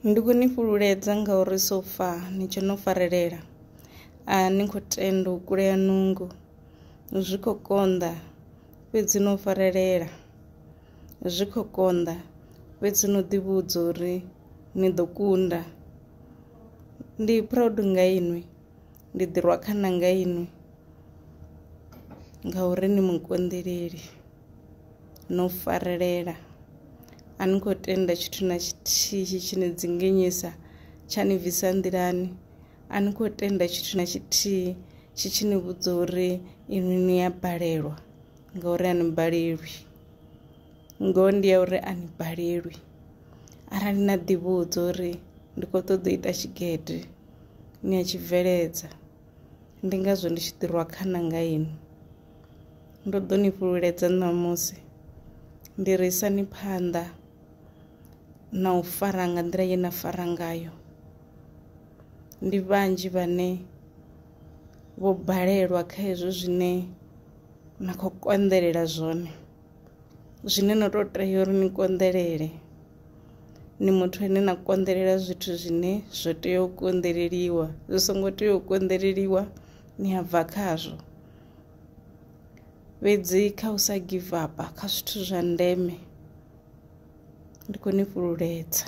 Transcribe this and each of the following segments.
Ndi khou ni fhululedza ngauri so far ni tshe no farelela. A ni khou tenda u kulea nungo, zwi khou konḓa fhedzi no farelela. Zwi khou konḓa fhedzi no ḓivhudza uri ni ḓo kunda. Ndi proud nga inwi, ndi ḓirwa khana nga inwi ngauri ni mukonḓeleli. no farelela a ni khou tenda tshithu na tshithihi tshi ni dzinginyisa tsha ni bvisa nḓilani a ni khou tenda tshithu na tshithihi tshi tshi ni vhudza uri inwi ni ya balelwa ngauri a ni balelwi ngoho ndi ya uri a ni balelwi arali na ḓivhudza uri ndi khou ṱoḓa u ita tshigede ni a tshi bveledza ndi ngazwo ndi tshi ḓirwa khana nga inwi Ndo ḓo ni fhululedza ṋamusi ndi ri isani phanḓa na u fara nga nḓila ye na fara ngayo ndi vhanzhi vhane vho balelwa kha hezwo zwine na khou konḓelela zwone zwine no tou tea uri ni konḓelele ni muthu ane na konḓelela zwithu zwine zwo tea u konḓeleliwa zwi songo tea u konḓeleliwa ni a bva khazwo fhedzi kha u sa give up kha zwithu zwa ndeme ndi khou ni fhululedza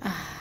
ah.